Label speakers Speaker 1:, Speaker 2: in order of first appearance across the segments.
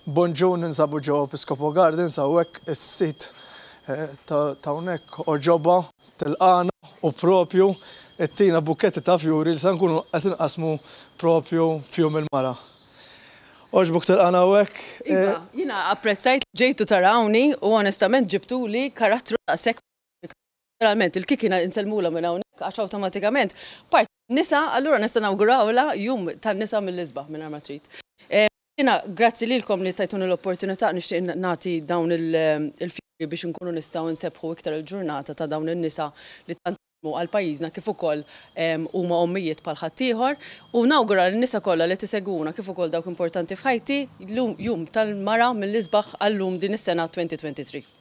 Speaker 1: Bonġun ninsabu ġewwa Episcopo Gardens hawnhekk is-sit eh, ta' hawnhekk oġobha tilqana u propju ttina bukketti ta' fjuri li se nkunu qed inqasmu propju fjum il-mara. Oġbuk tilqana hawnhekk. Iva, eh, jiena
Speaker 2: apprezzajt ġejtu tarawni u onestament ġibtuli karattru ta' sekk Ġeneralment il-kikina insellmulha minn hawnhekk għax awtomatikament parti tan-nisa, allura nista' nawgurawlha Jum tan-Nisa mill-isbaħ mingħajr ma trid. Jiena grazzi lilkom li tajtuni l-opportunità nixtieq nagħti dawn il-fjuri biex inkunu nistgħu nsebbħu iktar il-ġurnata ta' dawn in-nisa li tant ħadmu għal pajjiżna kif ukoll huma ommijiet bħal ħaddieħor u nawgura lin-nisa kollha li qed isegwuna kif ukoll dawk importanti f'ħajti Jum tal-Mara mill-isbaħ għal-lum din is-sena 2023.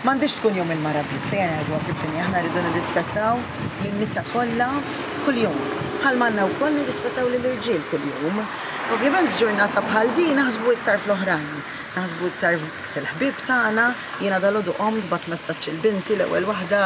Speaker 3: M'għandhiex tkun jew il-mara biss, ejja ngħiduha kif inhi, aħna rridu nirrispettaw lin-nisa kollha kuljum, bħal ma għandna wkoll nirrispettaw lill-irġiel kuljum. Ovvjament f'ġurnata bħal din naħsbu iktar fl-oħrajn, naħsbu iktar fil-ħbieb tagħna, jiena dalgħodu qomt bgħatt messaġġ lil binti l-ewwel waħda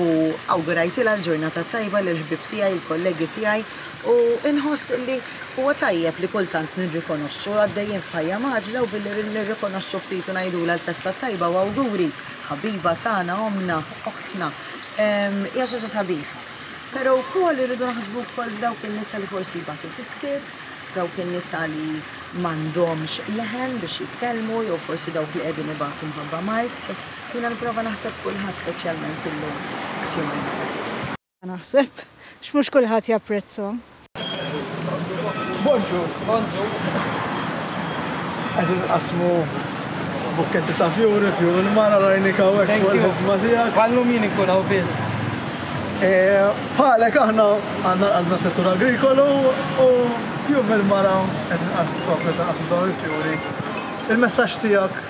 Speaker 3: u awgurajtilha l-ġurnata t-tajba lill-ħbieb tiegħi, il-kollegi tiegħi, U nħoss li huwa tajjeb li kultant nirrikonoxxu, għaddejjin f'ħajja mgħaġġla u billi nirrikonoxxu ftit u ngħidulha l-festa t-tajba u awguri, ħabiba tagħna, ommna, oħtna, hija xi ħaġa sabiħa. Però wkoll irridu naħsbu wkoll f'dawk in-nisa li forsi jbatu fis-skiet, dawk in-nisa li m'għandhomx leħen biex jitkellmu jew forsi dawk li qegħdin ibatu mħabba mard. Jiena nipprova naħseb f'kulħadd speċjalment illum f'Jum il-Mara. Ma naħsebx
Speaker 4: mhux kulħadd japprezzhom. Bonġur!
Speaker 1: Bonġur! Qed inqassmu bukketti ta' fjuri f'Jum il-Mara rajnik hawnhekk fuq il-ħidma tiegħek. Bħal-lum jien inkun hawn biss.
Speaker 5: Bħalek
Speaker 1: aħna għandna l-qalbna s-settur agrikolu u f'Jum il-Mara qed inqassmu, qed inqassmu dawn il-fjuri. Il-messaġġ tiegħek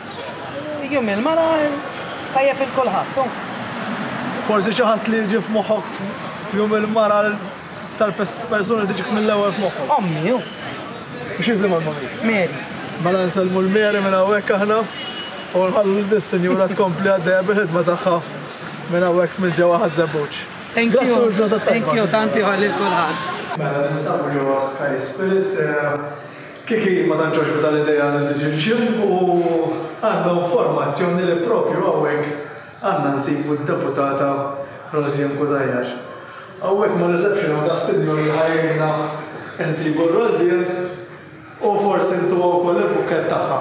Speaker 1: Jum
Speaker 5: il-mara tajjeb il kulħadd, hu.
Speaker 1: Forsi xi ħadd li jiġi f'moħħok f'jum il-mara tal persuna li tiġik mill-ewwel f'moħħok. Ommi, hu.
Speaker 5: U x'isimha
Speaker 1: l-mommi? Mary. Mela
Speaker 5: nsellmu
Speaker 1: l-Mary minn hawnhekk aħna u nħallu dis-sinjura tkompli għaddejja bil-ħidma tagħha minn hawnhekk minn ġewwa ħaż-żebbuġ. Thank
Speaker 5: you, tanti ħalli l kulħadd. Mela ninsabu
Speaker 1: ġewwa Sky Spirits. Kiki ma tantx għoġbitha l-idea li tiġi l-gym u għandha informazzjoni li propju hawnhekk għandna nsibu d-Deputata Rosianne Cutajar. Hawnhekk ma' reception hawn daqs sinjur li ħa jgħinna nsibu l-Rosianne u forsi ntuha wkoll il-bukkett tagħha.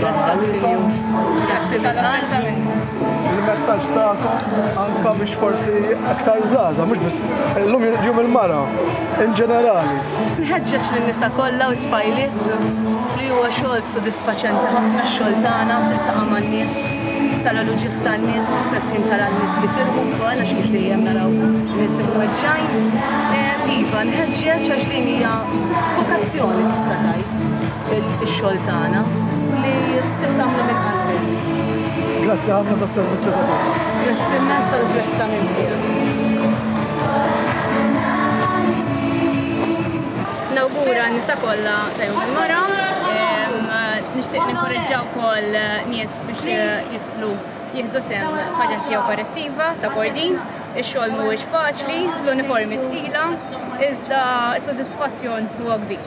Speaker 6: Grazie Il-messaġġ tagħkom
Speaker 1: anka biex forsi aktar żgħaża, mhux biss illum jum il-mara in ġenerali. Nħeġġeġ lin-nisa
Speaker 3: kollha u tfajliet li huwa xogħol sodisfaċenti ħafna x-xogħol tagħna tiltaqa' man-nies tara l-uġieħ tan-nies fis-sessin tara n-nies jifirħu wkoll għax mhux dejjem naraw nies imweġġajn. Eh, iva, nħeġġeġ għax din hija vokazzjoni tista' tgħid. ix-xogħol tagħna li tittamlu minn qalbi. Grazzi
Speaker 1: ħafna tas-servizz li tagħtuna. Grazzi immens
Speaker 3: tal-apprezzament
Speaker 6: Nawgura nisa kollha ta' jum il-mara. Nixtieq ninkoraġġaw ukoll nies biex jidħlu jieħdu sem f'aġenzija operattiva ta' Kordin. Ix-xogħol mhuwiex faċli, l-uniformi tqila, iżda s-sodisfazzjon huwa kbir.